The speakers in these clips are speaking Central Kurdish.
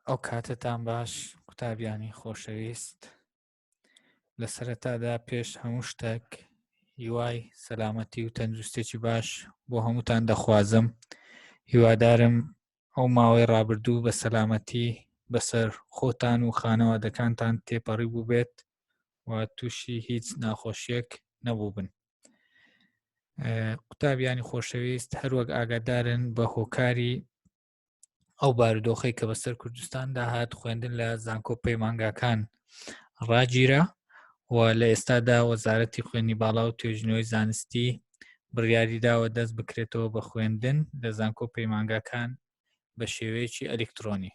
ئەو کاتتان باش قوتابیانی خۆشەویست لە سەرەتادا پێش هەموو شتێک هیوای سەلامەتی و تەندروستێکی باش بۆ هەمووتان دەخوازم هیوادارم ئەو ماوەی ڕابردوو بە سەلامەتی بەسەر خۆتان و خانەوادەکانتان تێپەڕی بوو بێت و تووشی هیچ ناخۆشیەک نەبوو بن قوتابیانی خۆشەویست هەروەک ئاگادارن بە هۆکاری ئەو بارودۆخی کە بەسەر کوردستاندا هات خوێندن لە زانکۆ پەیمانگاکان ڕاگیرە و لە ئێستادا وەزارەتی خوێنی باڵا و توێژنەوەی زانستی بڕیاری داوە دەست بکرێتەوە بە خوێندن لە زانکۆ پەیمانگاکان بە شێوەیەکی ئەلکترۆنی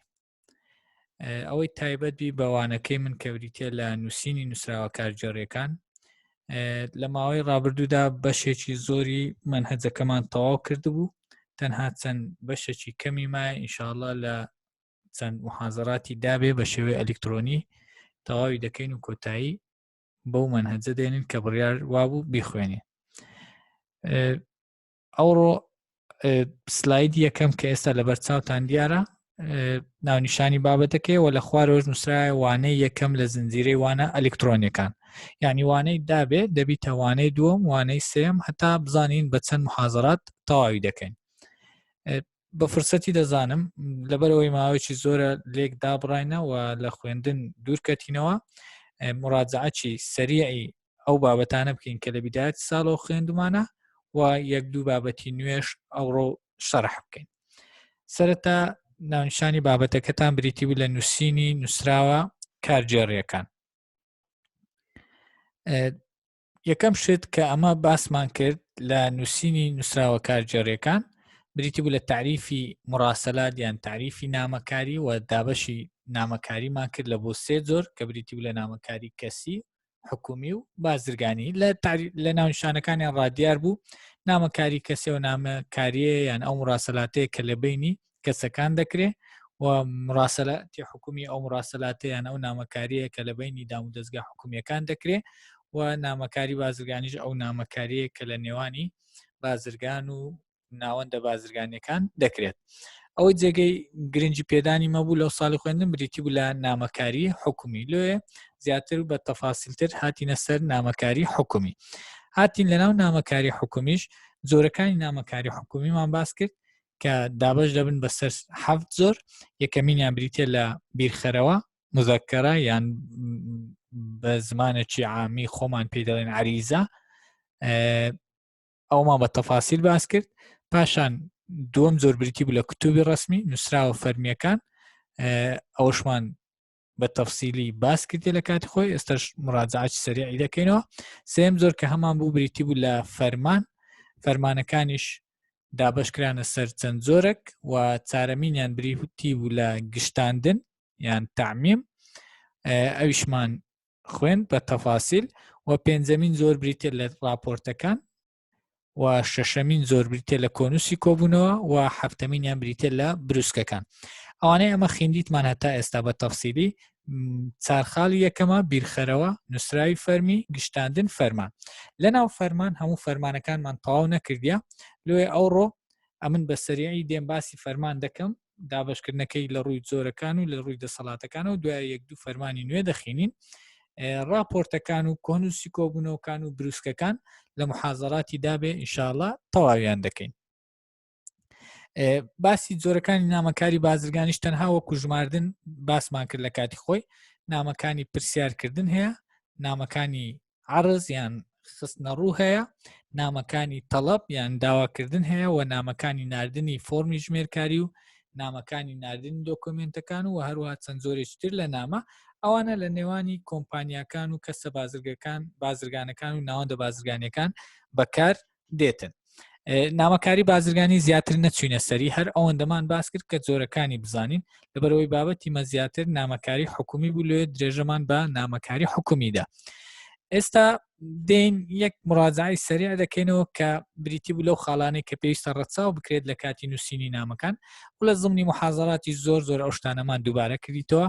ئەوەی تایبەت بی بەوانەکەی من کەوریتە لە نووسینی نووسراوە کارجێڕیەکان لە ماوەی ڕابردوودا بەشێکی زۆری منهجەکەمان تەواو کردبوو تەنها چەند بەشێکی کەمی مای ئینشاءله لە چەند محازراتی دابێ بە شێوەی ئەلکترۆنی تەواوی دەکەین و کۆتایی بەو منهجە دێنین کە بڕیار وابوو بیخوێنێ ئەوڕۆ سلاید یەکەم کە ئێستا لەبەر چاوتان دیارە ناونیشانی بابەتەکەیەوە لە خوارەوەش نووسراە وانەی یەکەم لە زنجیرەی وانە ئەلکترۆنیەکان یعنی وانەی دابێ دەبیتە وانەی دووەم وانەی سێم هەتا بزانین بە چەند محازرات تەواوی دەکەین بە فرسەتی دەزانم لەبەرەوەی ماوەیەکی زۆرە لێک دابڕینەوە لە خوێندن دوورکەتینەوە مڕاجعچی سەریعی ئەو بابەتانە بکەین کە لە بیدایەت ساڵەوە خوێندمانە و یەک دوو بابەتی نوێش ئەوڕۆ شەرح بکەین سەرەتا ناونشانی بابەتەکەتان بریتی بوو لە نووسینی نووسراوە کارگێڕیەکان یەکەم شت کە ئەمە باسمان کرد لە نووسینی نووسراوە کارگێڕیەکان بریتی بوو لە تعریفی مڕاستەلات یان تعریفی نامەکاری و دابەشی نامەکاریمان کرد لە بۆ سێ زۆر کە بریتی بوو لە نامەکاری کەسی حکومی و بازرگانی لە لە ناونشانەکانیان ڕادیار بوو نامەکاری کەسێ و نامەکاریە یان ئەو ڕاستەلاتەیە کە لە بینی کەسەکان دەکرێ و مڕاسەلاتی حکومی ئەو مڕاسەلاتیان ئەو نامەکاریە کە لە بینی دام و دەستگا حکومیەکان دەکرێ و نامەکاری بازرگانیش ئەو نامەکاریە کە لە نێوانی بازرگان و ناوەندە بازرگانیەکان دەکرێت ئەو جێگەی گرنگی پێدانی مەبوو لەو ساڵی خوێندن بریتی بوو لە نامەکاری حکومی لێ زیاتر بە تەفاسیلتر هاتینە سەر نامەکاری حکومی هاتین لەناو نامەکاری حکومیش زۆرەکانی نامەکاری حکومیمان باس کرد کە دابش دەبن بەسەر حەفت زۆر یەکەمینیان بریتە لە بیرخەرەوە مزەکەرە یان بە زمانێکی عامی خۆمان پێ دەڵێن عریزە ئەومان بە تەفاسیل باس کرد پاشان دووەم زۆر بریتی بوو لە کتوبی ڕسمی نووسراوە فەرمیەکان ئەوشمان بە تەفسیلی باس کردی لە کاتی خۆی ئێستش مراجعاتی سەریعی دەکەینەوە سێم زۆر کە هەمان بوو بریتی بوو لە فەرمان فەرمانەکانیش دابشکرانە سەر چەند زۆرەك و چارەمینیان بریتی بوو لە گشتاندن یان تعمیم ئەویشمان خوێن بە تەفاسیل و پێنجەمین زۆر بریتە لە راپۆرتەکان و شەشەمین زۆر بریتە لە کۆنووسی کۆبوونەوە و هەفتەمینیان بریتە لە بروسکەکان ئەوانەی ئەمە خیندیتمان هەتا ئێستا بە تەفسیلی چارخالی یەکەمە بیرخەرەوە نووسراوی فەرمی گشتاندن فەرمان لە ناو فەرمان هەموو فەرمانەکانمان تەواو نەکردە لێ ئەوڕۆ ئەمن بە سەریعی دێم باسی فەرمان دەکەم دابشکردنەکەی لە ڕووی جۆرەکان و لە ڕووی دەسەڵاتەکان و دوای یەک دوو فەرمانی نوێ دەخینین راپۆرتەکان و کۆنووسی کۆبوونەوەکان و بروسکەکان لە محازراتی دابێ ئینشاالله تەواویان دەکەین باسی جۆرەکانی نامەکاری بازرگانیش تەنها وەکو ژماردن باسمان کرد لە کاتی خۆی نامەکانی پرسیارکردن هەیە نامەکانی عرز یان خستنە ڕوو هەیە نامەکانی تەڵەب یان داواکردن هەیە و نامەکانی نردنی فۆمی ژمێرکاری و نامەکانی نردن دۆکۆمنتەکان و هەروها چەند زۆرێکتر لە نامە ئەوانە لە نێوانی کۆمپانیاکان و کەسە بازرگەکان بازرگانەکان و ناوەندە بازرگانەکان بەکار دێتن نامەکاری بازرگانی زیاتر نەچوینە سەری هەر ئەوەندەمان باس کرد کە جۆرەکانی بزانین لەبەرەوەی بابەتی مە زیاتر نامەکاری حکومی بوو لێ درێژەمان بە نامەکاری حکومیدا ئێستا دێن یەک مڕازایی سەریع دەکەینەوە کە بریتی بوو لەو خاڵانەی کە پێویستە ڕەچاو بکرێت لە کاتی نووسینی نامەکان و لە زمنی محازراتی زۆر زۆر ئەو شتانەمان دووبارە کردیتەوە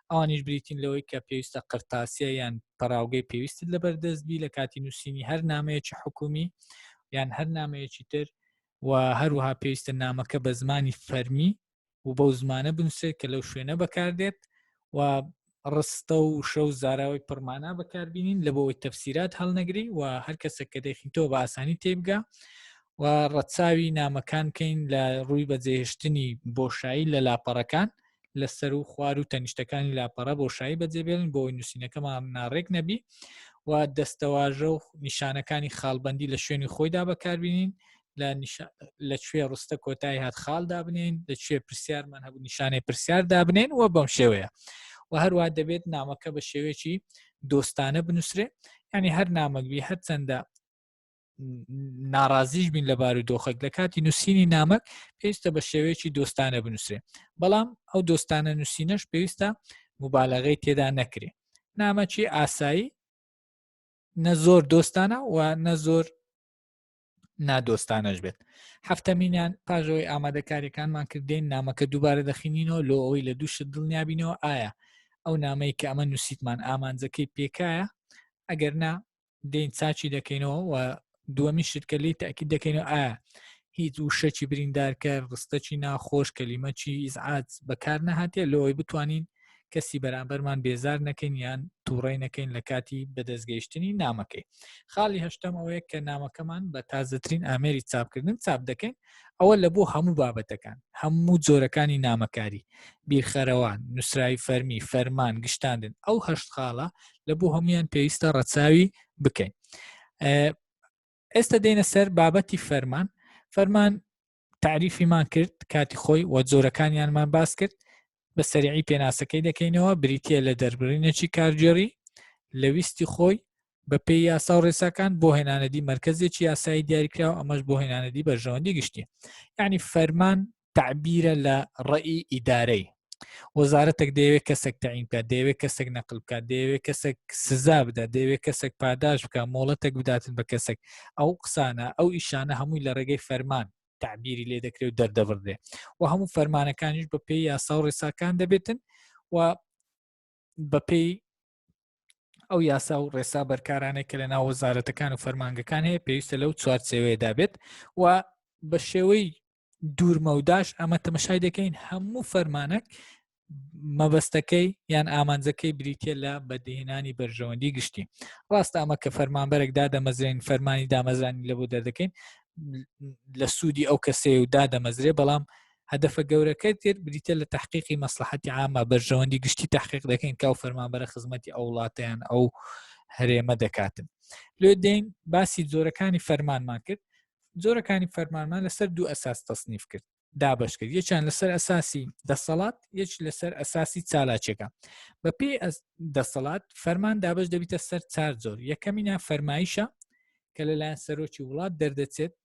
ئەوانیش بریتین لەوەی کە پێویستە قرتاسیە یان پەراوگەی پێویستت لەبەر دەست بی لە کاتی نووسینی هەر نامەیەکی حکومی یان هەر نامەیەکی تر و هەروها پێویستە نامەکە بە زمانی فەرمی و بەو زمانە بنووسێت کە لەو شوێنە بەکاردێت و ڕستە و شە و زاراوەی پڕمانە بەکاربیین لە بۆەوەی تەفسیرات هەڵنەگری و هەر کەسە کە دەخینتەوە بە ئاسانی تێبگا و ڕەچاوی نامەکان کەین لە ڕووی بەجێهشتنی بۆشایی لە لاپەڕەکان لە سەر و خوار و تەنیشتەکانی لاپەڕە بۆشایی بەجێبێلن بۆی نووسینەکەمان ناڕێک نەبی و دەستەواژە و نیشانەکانی خاڵبندی لە شوێنی خۆیدا بەکاربیین لە کوێ ڕستە کۆتایی هات خاڵ دابنین لە کوێ پرسیارمان هەبوو نیشانەی پرسیار دابنین و بەم شێوەیە و هەروە دەبێت نامەکە بە شێوەیەکی دۆستانە بنووسێ ینی هەر نامەگوی هەرچەندە ناڕازیش بین لە بار و دۆخێک لە کاتی نووسینی نامەک پێویستە بە شێوەیەکی دۆستانە بنووسێ بەڵام ئەو دۆستانە نووسینەش پێویستە مبالغەی تێدا نەکرێ نامەکی ئاسایی نە زۆر دۆستانە و نە زۆر نادۆستانەش بێت هەفتەمینیان پاژەوەی ئامادەکاریەکانمان کردین نامەکە دووبارە دەخینینەوە لۆ ئەوی لە دووشت دڵنیابینەوە ئایا ئەو نامەی کە ئەمە نووسیتمان ئامانجەکەی پێکایە ئەگەر نا دین چاچی دەکەینەوە و دووەمی شت کە لی تاکی دەکەینەوە ئا هیچ وشەکی بریندارکە ڕستەکی ناخۆش کەلیمەکی ئیزعات بەکار نەهاتێ لەوەی بتوانین کەسی بەرامبەرمان بێزار نەکەین یان تووڕی نەکەین لە کاتی بەدەستگەیشتنی نامەکەی خاڵی هەشتم ئەوەیە کە نامەکەمان بە تازەترین ئامێری چاپکردن چاپ دەکەین ئەوە لە بۆ هەموو بابەتەکان هەموو جۆرەکانی نامەکاری بیرخەرەوە نووسراوی فەرمی فەرمان گشتاندن ئەو هەشت خاڵە لە بۆ هەمویان پێویستە ڕەچاوی بکەین ئێستا دێنە سەر بابەتی فەرمان فەرمان تعریفیمان کرد کاتی خۆی و جۆرەکانیانمان باس کرد بە سەریعی پێناسەکەی دەکەینەوە بریتییە لە دەربڕینێکی کارگێڕی لە ویستی خۆی بەپێی یاسا و ڕێساکان بۆ هێنانەدی مەرکزێکی یاسایی دیاریکراوە ئەمەش بۆ هێنانەدی بەرژەوەندی گشتی یعنی فەرمان تعبیرە لە ڕێی ئیدارەی وەزارەتێک دەیەوێت کەسێک تەعین بکات دەیەوێت کەسێک نەقل بکات دەیەوێت کەسێک سزا بدات دەیەوێت کەسێک پاداش بکە مۆڵەتێک بداتن بە کەسێک ئەو قسانە ئەو ئیشانە هەمووی لە ڕێگەی فەرمان تعبیری لێ دەکرێت و دەردەبڕێ و هەموو فەرمانەکانیش بە پێی یاسا و ڕێساکان دەبێتن و بەپێی ئەو یاسا و ڕێسا بەرکارانێک کە لە ناو وەزارەتەکان و فەرمانگەکان هەیە پێویستە لەو چوارچەوەیەدا بێت و بە شێوەی دوورمەوداش ئەمە تەمەشای دەکەین هەموو فەرمانەک مەبەستەکەی یان ئامانجەکەی بریتە لە بەدیهێنانی بەرژەوەندی گشتی ڕاست ئەمە کە فەرمانبەرێک دادەمەزرێن فەرمانی دامەزرانی لە بۆ دەردەکەین لە سوودی ئەو کەسێ و دادەمەزرێ بەڵام هەدەفە گەورەکە تر بریتە لە تحقیقی مەسلحەتی ئامە بەرژەوەندی گشتی تحقیق دەکەین کاو فەرمانبەرە خزمەتی ئەو وڵاتیان ئەو هەرێمە دەکاتن لێ دێین باسی جۆرەکانی فەرمانمان کرد جۆرەکانی فەرمانمان لەسەر دوو ئەساس تەصنیف کرد دابش کرد یەکیان لەسەر ئەساسی دەسەڵات یەک لەسەر ئەساسی چالاکێکە بە پێی دەسەڵات فەرمان دابش دەبیتە سەر چار زۆر یەکەمینە فەرمایشە کە لەلایەن سەرۆکی وڵات دەردەچێت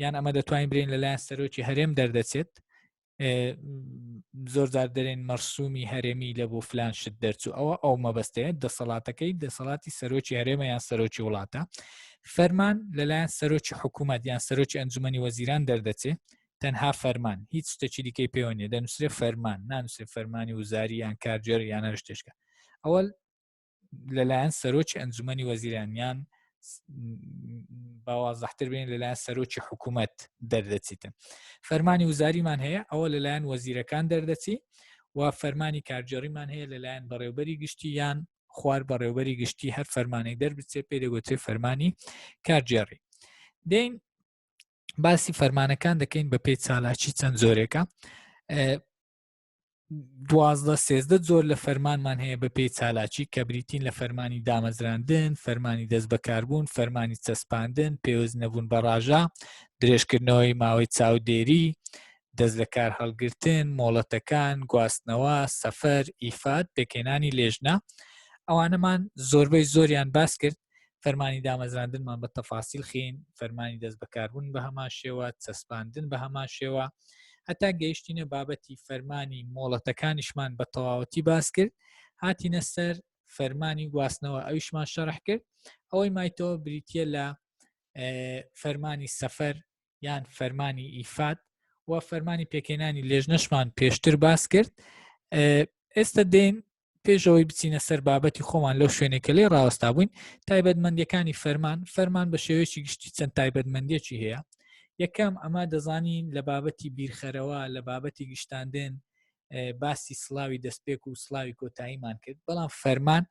یان ئەمە دەتوانین برین لەلایەن سەرۆکی هەرێم دەردەچێت زۆر زار دەرێن مەرسومی هەرێمی لە بۆ فلان شت دەرچوو ئەوە ئەو مەبەستەیە دەسەڵاتەکەی دەسەڵاتی سەرۆکی هەرێمە یان سەرۆکی وڵاتە فەرمان لەلایەن سەرۆکی حکوومەت یان سەرۆکی ئەنجومی وەزیران دەردەچێت تەنها فەرمان هیچ شتێکی دیکەی پێوە نیە دەنووسێ فەرمان نانووسێ فەرمانی وزاری یان کارجێر یان هەر شتێشکە ئەوە لەلایەن سەرۆکی ئەنجومی وەزیرانیان باوازەحتر بین لەلایەن سەرۆکی حکوومەت دەردەچیتن فەرمانی وزاریمان هەیە ئەوە لەلایەن وەزیرەکان دەردەچی و فەرمانی کارجێڕیمان هەیە لەلایەن بەڕێوبەری گشتی یان خوار بەڕێوبەری گشتی هەر فەرمانێک دەربچێت پێ دەگوتێ فەرمانی کارگێڕی دین باسی فەرمانەکان دەکەین بە پێی چالاکی چەند زۆرێکە دوازدە سێزدە زۆر لە فەرمانمان هەیە بە پێی چالاکی کە بریتین لە فەرمانی دامەزراندن فەرمانی دەست بەکاربوون فەرمانی چەسپاندن پێوەست نەبوون بە ڕژە درێژکردنەوەی ماوەی چاودێری دەستلەکارهەڵگرتن، مۆڵەتەکان، گواستنەوە، سەفەر، ئیفاد، پێکهێنانی لێژنە، ئەوانەمان زۆربەی زۆریان باس کرد، فەرمانی دامەزراندنمان بە تەفاسیل خین، فەرمانی دەست بەکاربوون بە هەمان شێوە، چەسپاندن بە هەمان شێوە، هەتا گەیشتینە بابەتی فەرمانی مۆڵەتەکانیشمان بە تەواوەتی باس کرد، هاتینە سەر فەرمانی گواستنەوە ئەویشمان شەرح کرد، ئەوەی مایتەوە بریتیە لە فەرمانی سەفەر، یان فەرمانی ئیفات و فەرمانی پێکێنانی لێژنەشمان پێشتر باس کرد ئێستا دێن پێشەوەی بچینە سەر بابەتی خۆمان لەو شوێنێکە لێ ڕاوەستا بووین تایبەتمەندەکانی فەرمان فەرمان بە شێوەیەکی گشتی چەند تایبەتمەندێکی هەیە یەکەم ئەمە دەزانین لە بابەتی بیرخەرەوە لە بابەتی گشتاندن باسی سلاوی دەستپێک و سلاوی کۆتاییمان کرد بەڵام فەرمان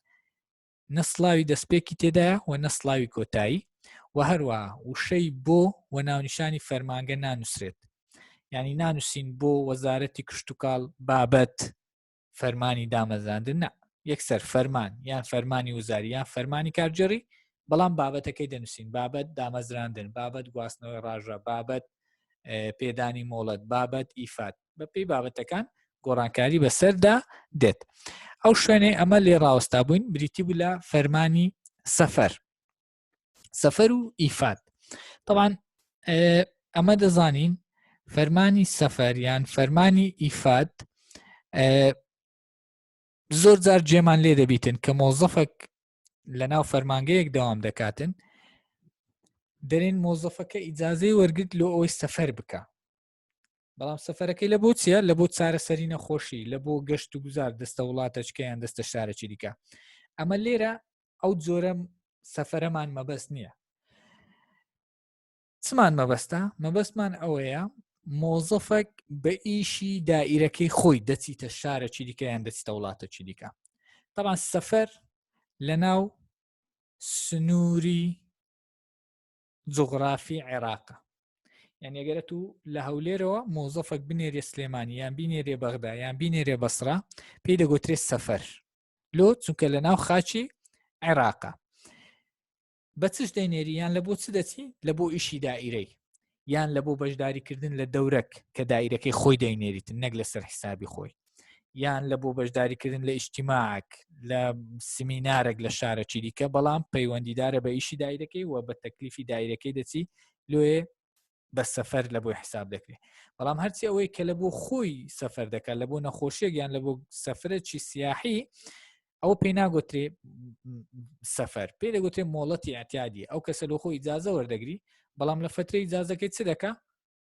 نە سڵاوی دەستپێکی تێدایە و نە سڵاوی کۆتایی و هەروە وشەی بۆ و ناونیشانی فەرمانگە نانووسرێت ینی نانووسین بۆ وەزارەتی کشتتوکاڵ بابەت فەرمانی دامەزاندن نە یەکسەر فەرمان یان فەرمانی وزاری یان فەرمانی کارجێڕی بەڵام بابەتەکەی دەنووسین بابەت دامەزراندن بابەت گواستنەوەی ڕژە بابەت پێدانی مۆڵەت بابەت ئیفات بەپی بابەتەکان گۆڕانکاری بەسەردا دێت ئەو شوێنێ ئەمە لێ ڕاوەستا بووین بریتی بوو لە فەرمانی سەفەر سەفەر و ئیفات طبعاان ئەمە دەزانین فەرمانی سەفەر یان فەرمانی ئیفات زۆر جار جێمان لێ دەبیتن کە مۆزەفەک لە ناو فەرمانگەیەک داوام دەکاتن دەرێن مۆزەفەکە ئیجاازەی وەرگرت لۆ ئەوەی سەفەر بکە بەڵام سەفەرەکەی لە بۆ چیە لە بۆ چارەسەری نەخۆشی لە بۆ گەشت و گوزار دەستە وڵاتەچکەیان دەستە شارەکی دیکە ئەمە لێرە ئەو جۆرە سەفەرەمان مەبەست نییە چمان مەبەستە مەبەستمان ئەوەیە مۆزەفەک بە ئیشی دائیرەکەی خۆی دەچیتە شارەکی دیکەیان دەچتە وڵاتەکی دیکە طبعا سەفەر لە ناو سنووری جوغرافی عێراقە یان ئەگەرە تو لە هەولێرەوە مۆزەفەک بنێرێ سلێمانی یان بینێرێ بەغدا یان بینێرێ بەسرا پێی دەگوترێ سەفەر لۆ چونکە لە ناو خاچی عێراقە بە چش دەینێری یان لە بۆ چ دەچی لە بۆ ئیشی دائیرەی یان لە بۆ بەشداریکردن لە دەورەک کە دایرەکەی خۆی دەینێریتن نەک لەسەر حسابی خۆی یان لە بۆ بەشداریکردن لە ئیشتیماک لە سمینارێک لە شارەکی دیکە بەڵام پەیوەندیدارە بە ئیشی دایرەکەی و بە تەکلیفی دایرەکەی دەچی لێ بە سەفەر لە بۆی حساب دەکرێت بەڵام هەرچی ئەوەی کە لە بۆ خۆی سەفەر دەکات لە بۆ نەخۆشیێک یان لە بۆ سەفرەکی سیاحی ئەو پێی ناگوترێ سەفەر پێ دەگوتێ مۆڵەتی ئەتیادی ئەو کەسە لە خۆی جازە وەردەگری بەڵام لە فترەی جازەکەی چ دەکە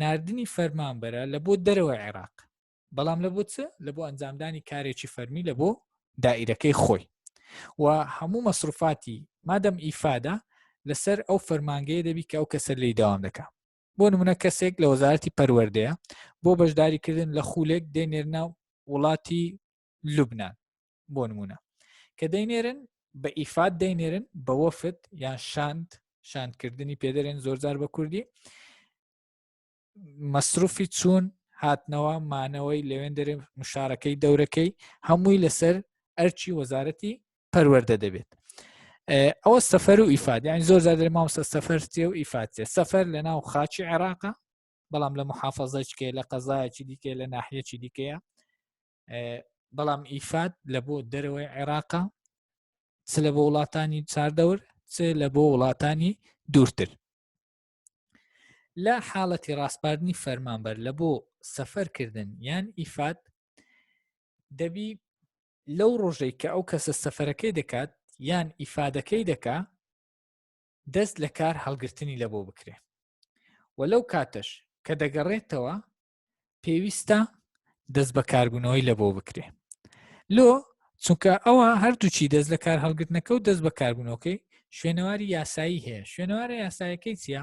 ناردنی فەرمانبەرە لە بۆ دەرەوەی عێراق بەڵام لە بۆ چ لە بۆ ئەنجامدانی کارێکی فەرمی لە بۆ دائیرەکەی خۆی و هەموو مەسروفاتی مادەم ئیفادە لەسەر ئەو فەرمانگەیە دەبی کە ئەو کەسەر لی داوام دەکە بۆ نمونە کەسێک لە وەزارەتی پەروەردەیە بۆ بەشداریکردن لە خولێک دێنێرنە وڵاتی لوبنان بۆ نمونە کە دەینێرن بە ئیفات دەینێرن بە وەفت یان شاند شاندکردنی پێدەرێن زۆرجار بە کوردی مەسروفی چوون هاتنەوە مانەوەی لەوێن دەرێ مشارەکەی دەورەکەی هەمووی لەسەر ئەرچی وەزارەتی پەروەەردە دەبێت ئەوە سەفەر و ئیفادیان زۆر زیادر ماوسە سەفەر تێ و ئیفاتێ سەفەر لە ناو خاچی عێراقە بەڵام لە محافظەچکێ لە قەزایەکی دیکە لە ناحەکی دیکەیە بەڵام ئیفات لە بۆ دەرەوەی عێراقا چ لە بۆ وڵاتانی چاردەور چ لە بۆ وڵاتانی دوورتر لە حاڵەتی ڕاستپاردنی فەرمانبەر لە بۆ سەفەرکردن یان ئیفات دەبی لەو ڕۆژەی کە ئەو کەسە سەفەرەکەی دەکات یان ئیفادەکەی دەکا دەست لە کار هەڵگرتنی لە بۆ بکرێ و لەو کاتەش کە دەگەڕێتەوە پێویستە دەست بە کاربوونەوەی لە بۆ بکرێ لۆ چونکە ئەوە هەردووچی دەست لە کار هەڵگرتنەکە و دەست بە کاربوونەوەکەی شوێنەواری یاسایی هەیە شوێنەوارە یاسایەکەی چییە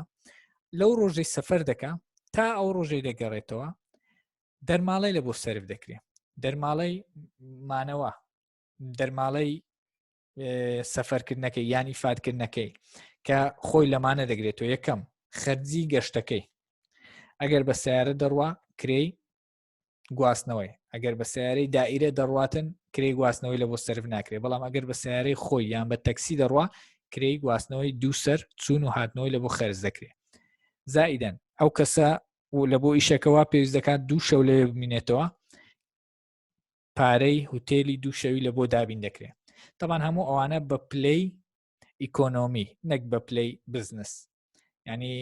لەو ڕۆژەی سەفەر دەکە تا ئەو ڕۆژەی دەگەڕێتەوە دەرماڵی لە بۆ سرف دەکرێت دەرماڵی مانەوە دەرماڵی سەفەرکردنەکەی یان ئیفادکردنەکەی کە خۆی لەمانە دەگرێت و یەکەم خەرجی گەشتەکەی ئەگەر بە سیارە دەڕوا کرێی گواستنەوەی ئەگەر بە سیارەی دائیرە دەڕاتن کرێ گواستنەوەی لە بۆ سرف ناکرێ بەڵام ئەگەر بە سیارەی خۆی یان بە تەکسی دەڕوا کرێی گواستنەوەی دووسەر چون و هاتنەوەی لە بۆ خەرز دەکرێ زائیدەن ئەو کەسە لە بۆ ئیشەکەەوە پێویست دەکات دوو شەو لەوێ بمینێتەوە پارەی هوتێلی دوو شەوی لە بۆ دابین دەکرێت تەبان هەموو ئەوانە بە پلەی ئیکۆنۆمی نەک بە پلەی بزنس ینی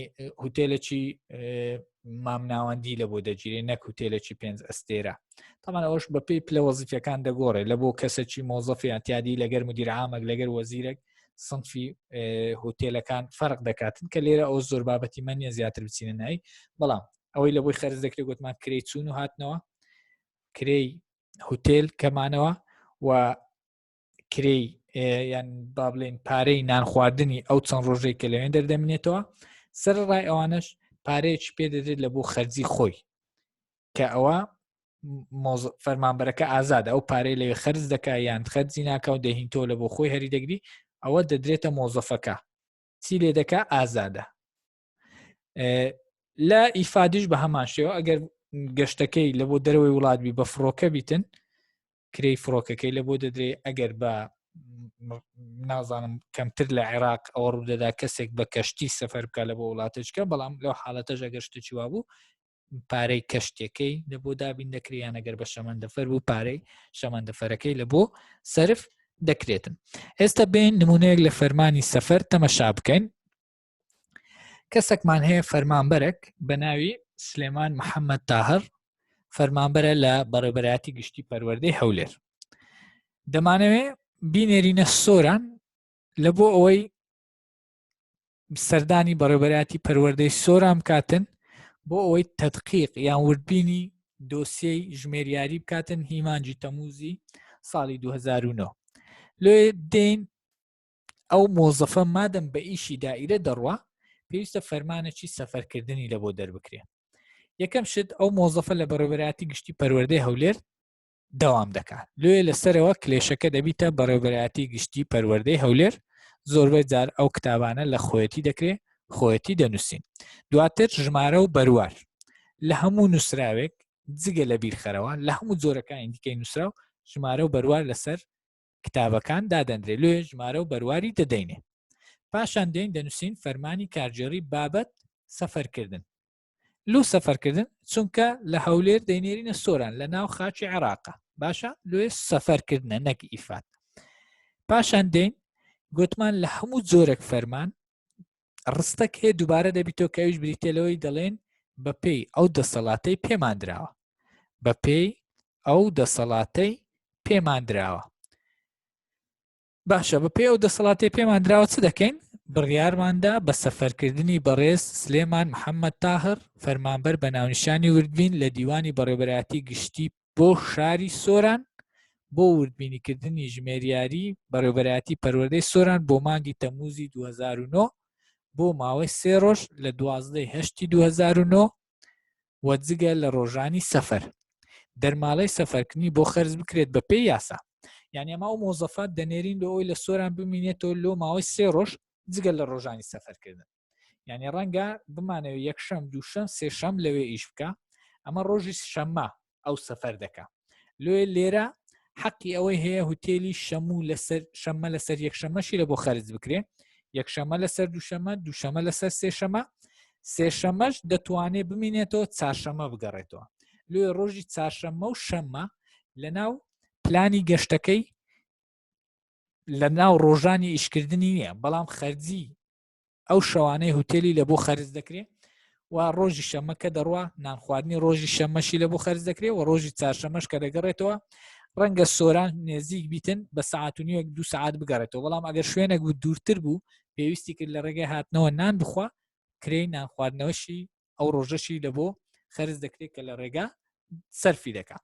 هوتێلەکی مامناوەندی لە بۆ دەگیرێ نەک هوتێلەکی پێنج ئەستێرە تامان ئەوش بە پێی پلە وەزیفەکان دەگۆڕێ لە بۆ کەسەکی مۆزەفی ئەتیادی لەگەر مدیرعامەک لەگەر وەزیرەک سنفی هوتێلەکان فەرق دەکاتن کە لێرە ئەو زۆر بابەتی من نیە زیاتر بچینە نای بەڵام ئەوەی لە بۆی خەرز دەکرێت گوتمان کرێ چوون و هاتنەوە کرێی هوتێل کەمانەوە و کرێی یان با بڵێن پارەی نان خواردنی ئەو چەند ڕۆژێک کە لەوێن دەردەمێنێتەوە سەر ڕای ئەوانش پارەیەکی پێ دەدرێت لە بۆ خەرجی خۆی کە ئەوە فەرمانبەرەکە ئازاد ئەو پارەی لەوێ خرج دەکە یان خەرجی ناکە و دەهین تۆ لە بۆ خۆی هەری دەگری ئەوە دەدرێتە مۆزەفەکە چی لێ دەکا ئازادە لە ئیفادیش بە هەمان شێوە ئەگەر گەشتەکەی لە بۆ دەرەوەی وڵاتبی بە فڕۆکە بیتن کرێی فڕۆکەکەی لە بۆ دەدرێ ئەگەر بە نازانم کەمتر لە عێراق ئەوە ڕوودەدا کەسێک بە کەشتی سەفەر بکە لە بۆ وڵاتەچکە بەڵام لەو حاڵەتە ژەگەشتە چیوا بوو پارەی کەشتەکەی لە بۆ دابین دەکریان ئەگەر بە شەمەندەفەر بوو پارەی شەمەندەفەرەکەی لە بۆ سرف دەکرێتن ئێستا بین نمونەیەک لە فەرمانی سەفەر تەمەشا بکەین کەسێکمان هەیە فەرمانبەرێک بە ناوی سلێمان محەممەد تاهر فەرمانبەرە لە بەڕێبەرایەتی گشتی پەروەردەی هەولێر دەمانەوێ بینێرینە سۆران لە بۆ ئەوەی سەردانی بەڕێبەراتی پەروەردەی سۆرام کاتن بۆ ئەوەی تەدقیق یان وردبینی دۆسیەی ژمێریاری بکاتن هیمانجی تەموزی ساڵی 2009 لێ دێن ئەو مۆزەفە مادەم بە ئیشی دائیرە دەڕوا پێویستە فەرمانەکی سەفەرکردنی لە بۆ دەربکرێ یەکەم شت ئەو مۆزەفە لە بەڕێبەراتی گشتی پەروەردەی هەولێر داوام دەکات لێ لەسەرەوە کلێشەکە دەبیتە بەڕێبەراتی گشتی پەروەردەی هەولێر زۆربەی جار ئەو کتابانە لە خۆەتی دەکرێ خۆەتی دەنووسین دواتر ژمارە و بەروار لە هەموو نووسراوێک جگە لە بیرخەرەوە لە هەموو جۆرەکانی دیکەی نووسراو ژمارە و بەروار لەسەر کتابەکان دادەندرێ لۆ ژمارە و بەرواری دەدەینێ پاشان دێن دەنووسین فەرمانی کارگێڕی بابەت سەفەرکردن لو سەفەرکردن چونکە لە هەولێر دەینێرینە سۆران لە ناو خاچی عێراقە باشە لێ سەفەرکردنە نەک ئیفات پاشان دێن گوتمان لە هەموو جۆرەك فەرمان ڕستەک هەیە دووبارە دەبیتەوە کە ئەوش بریتە لەوەی دەڵێن بە پێی ئەو دەسەڵاتەی پێماندراوە بە پێی ئەو دەسەڵاتەی پێماندراوە باشە بە پێی ئەو دەسەڵاتی پێماندراوە چ دەکەین بڕیارماندا بە سەفەرکردنی بەڕێز سلێمان محەممەد تاهر فەرمانبەر بە ناونیشانی وردبین لە دیوانی بەڕێبەراتی گشتی بۆ شاری سۆران بۆ وردبینیکردنی ژمێریاری بەڕێوبەرایەتی پەروەردەی سۆران بۆ مانگی تەموزی 2009 بۆ ماوەی سێ ڕۆژ لە دوازدەی هەشتی 2009 و جگە لە ڕۆژانی سەفەر دەرماڵەی سەفەرکردنی بۆ خەرز بکرێت بە پێی یاسا یعنی ئەما و مۆزەفات دەنێرین لە ئەوی لە سۆران بمینێتەوە لۆ ماوەی سێ ڕۆژ جگە لە ڕۆژانی سەفەرکردن یعنی ڕەنگە بمانەوە یەکشەم دووشەم سێشەم لەوێ ئیش بکە ئەمە ڕۆژی شەممە ئەو سەفەر دەکە لێ لێرە حەقی ئەوەی هەیە هوتێلی شەموو لەسەر شەممە لەسەر یەکشەمەشی لە بۆ خەرج بکرێ یەکشەمە لەسەر دووشەمە دووشەمە لەسەر سێشەمە سێشەمەش دەتوانێت بمینێتەوە چارشەمە بگەڕێتەوە لێ ڕۆژی چارشەمە و شەممە لە ناو پلانی گەشتەکەی لە ناو ڕۆژانی ئیشکردنی نییە بەڵام خەرجی ئەو شەوانەی هوتێلی لە بۆ خەرز دەکرێت و ڕۆژی شەمە کە دەڕوا نانخواردنی ڕۆژی شەمەشی لە بۆ خەرز دەکرێت و ڕۆژی چارشەمەش کە دەگەڕێتەوە ڕەنگە سۆران نێزیک بیتن بە سعات و نیوەک دو سعات بگەڕێتەوە بەڵام ئەگەر شوێنێک بوو دوورتر بوو پێویستی کرد لە ڕێگەی هاتنەوە نان بخوا کرێی نانخواردنەوەشی ئەو ڕۆژەشی لە بۆ خەرز دەکرێت کە لە ڕێگا سەرفی دەکات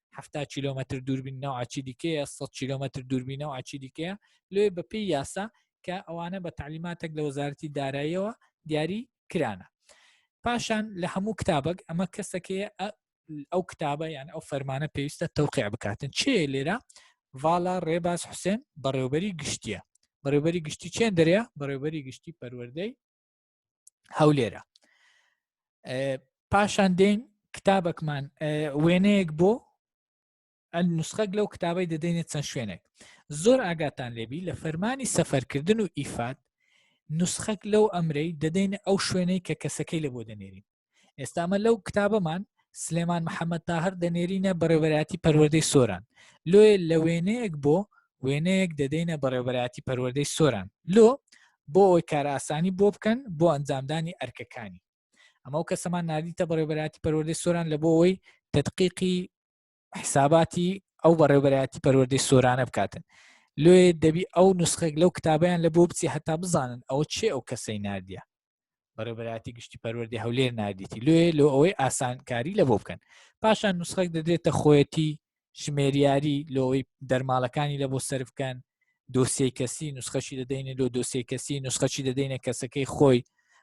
حفتا کیلومتر دووربین ناو ئاچی دیکەیە 100 کیلومتر دووربینە و ئاچی دیکەیە لێ بەپی یاسا کە ئەوانە بە تعلیماتێک لە وەزارەتی داراییەوە دیاری کرانە پاشان لە هەموو کتابک ئەمە کەسەکەی ئەو کتابە یان ئەو فەرمانە پێویستە تەوقع بکاتن چێ لێرە ڤالا ڕێباز حوسێن بەڕێوبەری گشتیە بەڕێوبەری گشتی چێن دەرێ بەڕێوبەری گشتی پەروەەردەی هەولێرە پاشان دێن کتابەکمان وێنەیەک بۆ نسخەک لەو کتابی دەدەینێت چەند شوێنێک زۆر ئاگاتان لێبی لە فەرمانی سەفەرکردن و ئیفات نسخەک لەو ئەمرەی دەدەینە ئەو شوێنەی کە کەسەکەی لە بۆ دەنێرین ئێستامە لەو کتابەمان سلێمان محەممەد تاهر دەنێرینە بەڕێوەراتی پەروەردەی سۆران لۆێ لە وێنەیەک بۆ وێنەیەک دەدەینە بەڕێوەراتی پەروەردەی سۆران لۆ بۆ ئەوی کارئاسانی بۆ بکەن بۆ ئەنجامدانی ئەرکەکانی ئەمە و کەسەمان نردیتە بەڕێوەراتی پەروەردەی سۆران لە بۆ ئەوی تدقیقی حیساباتی ئەو بەڕێوبەرایەتی پەروەردەی سۆرانە بکاتن لێ دەبی ئەو نسخێک لەو کتابیان لە بۆ بچی هەتا بزانن ئەوە چێ ئەو کەسەی نردە بەڕێبەراتی گشتی پەروەردی هەولێر نردیتی لێ لۆ ئەوەی ئاسانکاری لە بۆ بکەن پاشان نسخێک دەدرێتە خۆەتی ژمێریاری لۆی دەرماڵەکانی لە بۆ سەر بکەن دۆسیی کەسی نسخەشی دەدەینە لۆ دۆسیی کەسی نسخەچی دەدەینە کەسەکەی خۆی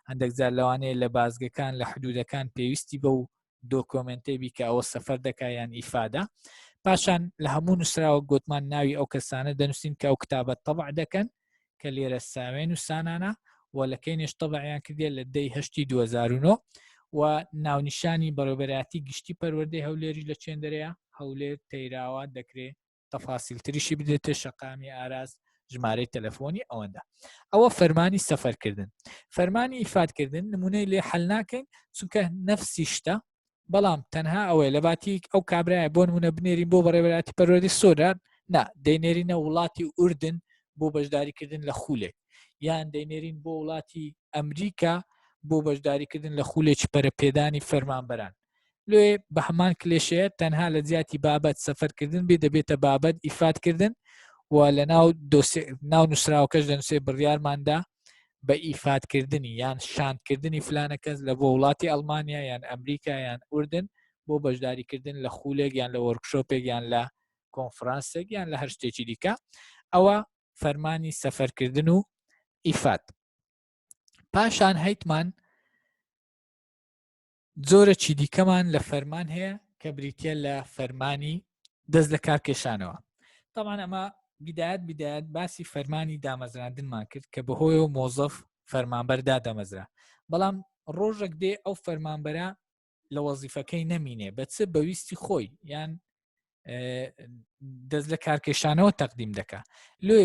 هەندێک جار لەوانەیە لە بازگەکان لە حدودەکان پێویستی بە و دۆکۆمنتەی بیکە ئەوە سەفەر دەکا یان ئیفادە پاشان لە هەموو نووسراوە گوتمان ناوی ئەو کەسانە دەنووسین کە ئەو کتابە تەبع دەکەن کە لێرە ساوێن و سانانە و لە کەی نێشتەبعیان کردێ لە دەی هەشتی 2009 و ناونیشانی بەڕێبەراتی گشتی پەروەردەی هەولێری لە چێندەرەیە هەولێر تەیراوە دەکرێت تەفاسیل تریشی بدێتێ شەقامی ئاراز ژمارەی تەلەفۆنی ئەوەندە ئەوە فەرمانی سەفەرکردن فەرمانی ئیفادکردن نمونەی لێ حل ناکەین چونکە نەفسی شتە بەڵام تەنها ئەوەیە لە باتیک ئەو کابراای بۆ نمونە بنێرین بۆ بەڕێبەراتی پەرۆری سۆران نا دەینێرینە وڵاتی ئوردن بۆ بەشداریکردن لە خولێک یان دەینێرین بۆ وڵاتی ئەمریکا بۆ بەشداریکردن لە خولێکی پەرەپێدانی فەرمانبەران لێ بە هەمان کلێشەیە تەنها لە جیاتی بابەت سەفەرکردن بێ دەبێتە بابەت ئیفادکردن و لە ناو ناو نووسراوەکەش دەنووسێ بڕیارماندا بە ئیفادکردنی یان شاندکردنی فلانە کەس لە بۆ وڵاتی ئەلمانیا یان ئەمریکا یان ئوردن بۆ بەشداریکردن لە خولێک یان لە وەرکشۆپێک یان لە کۆنفرانسێک یان لە هەر شتێکی دیکە ئەوە فەرمانی سەفەرکردن و ئیفات پاشان هەیتمان جۆرەکی دیکەمان لە فەرمان هەیە کە بریتە لە فەرمانی دەست لە کار کێشانەوە تامان ئەمە بدایت بدایت باسی فەرمانی دامەزراندنمان کرد کە بەهۆی و مۆزەف فەرمانبەردا دەمەزرا بەڵام ڕۆژێک دێ ئەو فەرمانبەرە لە وەزیفەکەی نەمینێ بە چ بەویستی خۆی یان دەست لە کارکێشانەوە تەقدیم دەکا لێ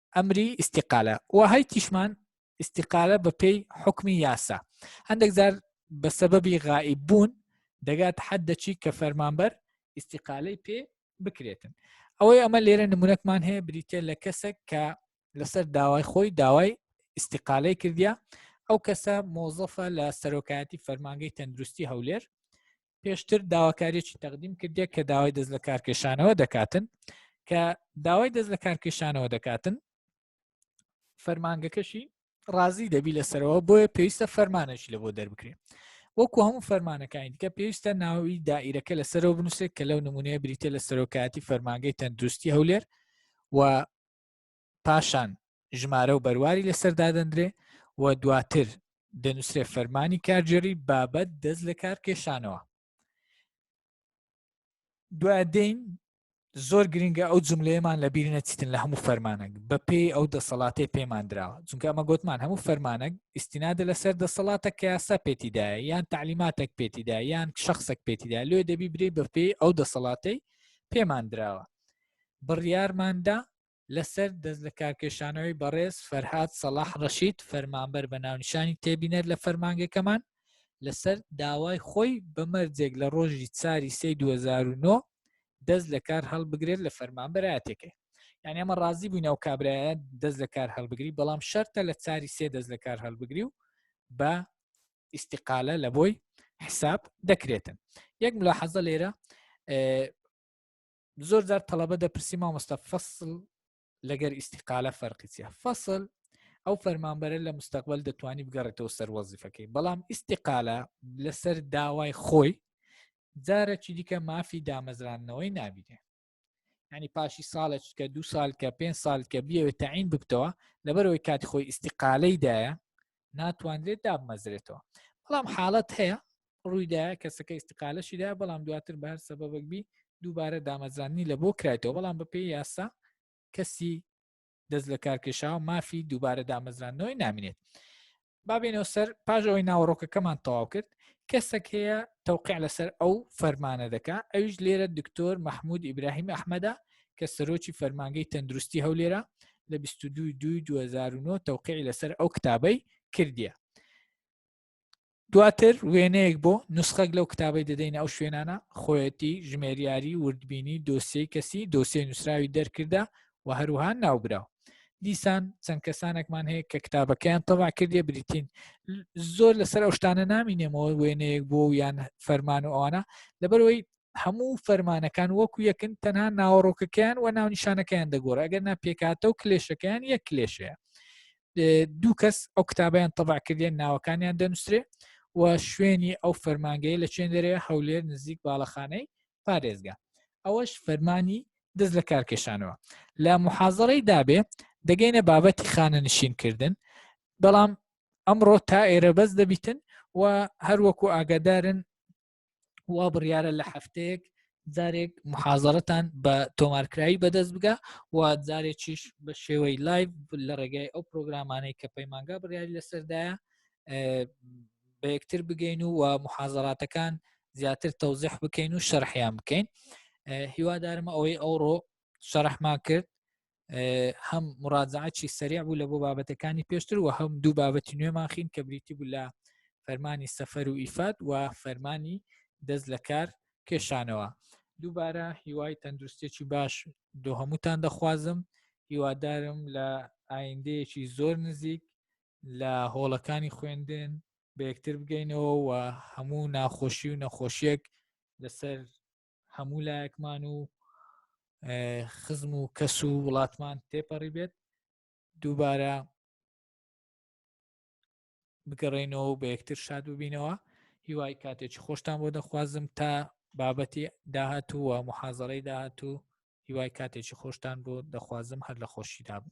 ئەمری ئیسیقالە و هەی تیشمان ئیسیقالە بە پێی حکمی یاسا هەندێک جار بە سەبەبی غایی بوون دەگات حەد دەچی کە فەرمانبەر ئیسیقالەی پێ بکرێتن ئەوەی ئەمە لێرە نمونەتمان هەیە بریتە لە کەسێک کە لەسەر داوای خۆی داوای ئیسیقالەی کردیا ئەو کەسە مۆزەفە لە سەرۆکایەتی فەرمانگەی تەندروستی هەولێر پێشتر داواکاریی تەقدیم کردێک کە داوای دەست لە کارکێشانەوە دەکاتن کە داوای دەست لە کارکێشانەوە دەکاتن فەرمانگەکەشی ڕازی دەبی لەسەرەوە بۆیە پێویستە فەرمانەشی لە بۆ دەربکرێت وەکو هەموو فەرمانەکانی دیکە پێویستە ناوی دائیرەکە لەسەرەوە بنووسێت کە لەو نمونەیە بریتە لە سەرۆکاتی فەرمانگەی تەندروستی هەولێر و پاشان ژمارە و بەرواری لەسەر دادەندرێ و دواتر دەنووسرێ فەرمانی کارگێڕی بابەت دەست لە کار کێشانەوە دوای دێین زۆر گرنگە ئەو جملەیەمان لە بیر نەچیتن لە هەموو فەرمانەک بە پێی ئەو دەسەڵاتی پێمان دراوە چونکە ئەمە گوتمان هەموو فەرمانەک ئیسینادە لەسەر دەسەڵاتە کە یاسا پێتیدایە یان تعلیماتێک پێتیدا یان شخصێک پێتیدا لێ دەبی برێ بە پێی ئەو دەسەڵاتی پێمان دراوە بڕیارماندا لەسەر دەستلەکارکێشانەوەی بەڕێز فەرهاد سەڵاح ڕەشید فەرمانبەر بە ناونیشانی تێبینەر لە فەرمانگەکەمان لەسەر داوای خۆی بە مەرجێک لە ڕۆژی چاری سێی 2009 دەست لە کار هەڵبگرێت لە فەرمانبەراتێکەکە یعنی ئەمە ڕازی بووین ئەو کابراە دەست لە کار هەڵبگری بەڵام شەرتە لە چاری سێ دەست لە کار هەڵبگری و بە ئیسیقالە لە بۆی حساب دەکرێتن یەک ملا حەزە لێرە زۆر جار تەڵەبە دەپرسی مامۆستا فەسل لەگەر ئیسیقالە فەرقی چیە فەسل ئەو فەرمانبەرە لە مستەقبل دەتوانانی بگەڕێتەوە سەر وەزیفەکەی بەڵام ئیسیقالە لەسەر داوای خۆی جارەکی دیکە مافی دامەزراندنەوەی نابینێ ینی پاشی ساڵێک کە دو سال کە پێ سال کە بیەوێت تەعین بکتەوە لەبەرەوەی کاتی خۆی ئیسیقالەیدایە ناتوانرێت دابمەزرێتەوە بەڵام حاڵەت هەیە ڕوویدا کەسەکە ئیسقالەشیدا بەڵام دواتر بە هەر سەبەبک بی دووبارە دامەزرانی لە بۆ کرایتەوە بەڵام بە پێی یاسا کەسی دەست لە کارکێشاو مافی دووبارە دامەزرانەوەی نامینێت بابێنەوە سەر پاژ ئەوەی ناوەڕۆکەکەمان تەواو کرد کەسەک هەیە تەوقع لەسەر ئەو فەرمانە دەکا ئەویش لێرە دکتۆر مححمود ئیبراهیم ئەحمەدا کە سەرۆکی فەرمانگەی تەندروستی هەولێرە لە 22 دوی 2009 تەوقعی لەسەر ئەو کتابەی کردیە دواتر وێنەیەک بۆ نسخەک لەو کتابی دەدەینە ئەو شوێنانە خۆیەتی ژمێریاری وردبینی دۆسی کەسی دۆسی نووسراوی دەرکردە و هەروها ناوبراو دیسان چەند کەسانێکمان هەیە کە کتابەکەیان تەوا کردێ بریتین زۆر لەسەر ئەو شتانە نامینێمەوە وێنەیەک بۆ یان فەرمان و ئەوانە لەبەرەوەی هەموو فەرمانەکان وەکو یەکن تەنها ناوەڕۆکەکەیان و ناونیشانەکەیان دەگۆڕ ئەگەر ناپێکاتە و کلێشەکەیان یەک کلێشەیە دوو کەس ئەو کتابیان تەبعکردێن ناوەکانیان دەنووسێ و شوێنی ئەو فەرمانگەی لە چێن دەرێ هەولێر نزیک باڵەخانەی پارێزگا ئەوەش فەرمانی دەست لە کارکێشانەوە لە محازڕی دابێ دەگەینە بابەتی خانە نشینکردن بەڵام ئەمڕۆ تا ئێرە بەس دەبیتن و هەروەکو ئاگادارن وا بڕیارە لە هەفتەیەک جارێک محازەرەتان بە تۆمارکراوی بەدەست بگە و جارێکیش بە شێوەی لایڤ لە ڕێگای ئەو پرۆگرامانەی کە پەیمانگا بڕیاری لەسەردایە بە یەکتر بگەین و و محازەراتەکان زیاتر تەوزیح بکەین و شەرحیان بکەین هیوادارمە ئەوەی ئەوڕۆ شەرحمان کرد هەم مڕازعاتی سەریع بوو لە بۆ بابەتەکانی پێشتر و هەم دوو بابەتی نوێمانخین کە بریتی بوو لە فەرمانی سەفەر و ئیفات و فەرمانی دەست لە کار کێشانەوە دووبارە هیوای تەندروستێکی باش دۆ هەمووتان دەخوازم هیوادارم لە ئایندەیەکی زۆر نزیک لە هۆڵەکانی خوێندن بە یەکتر بگەینەوە و هەموو ناخۆشی و نەخۆشیەک لەسەر هەموو لایەکمان و خزم و کەس و وڵاتمان تێپەڕی بێت دووبارە بگەڕێنەوە بە یەکتر شاد ببینەوە هیوای کاتێکی خۆشتان بۆ دەخوازم تا بابەتی داهاتوو و محازڕی داهاتوو هیوای کاتێکی خۆشتان بۆ دەخوازم هەر لە خۆشی دابن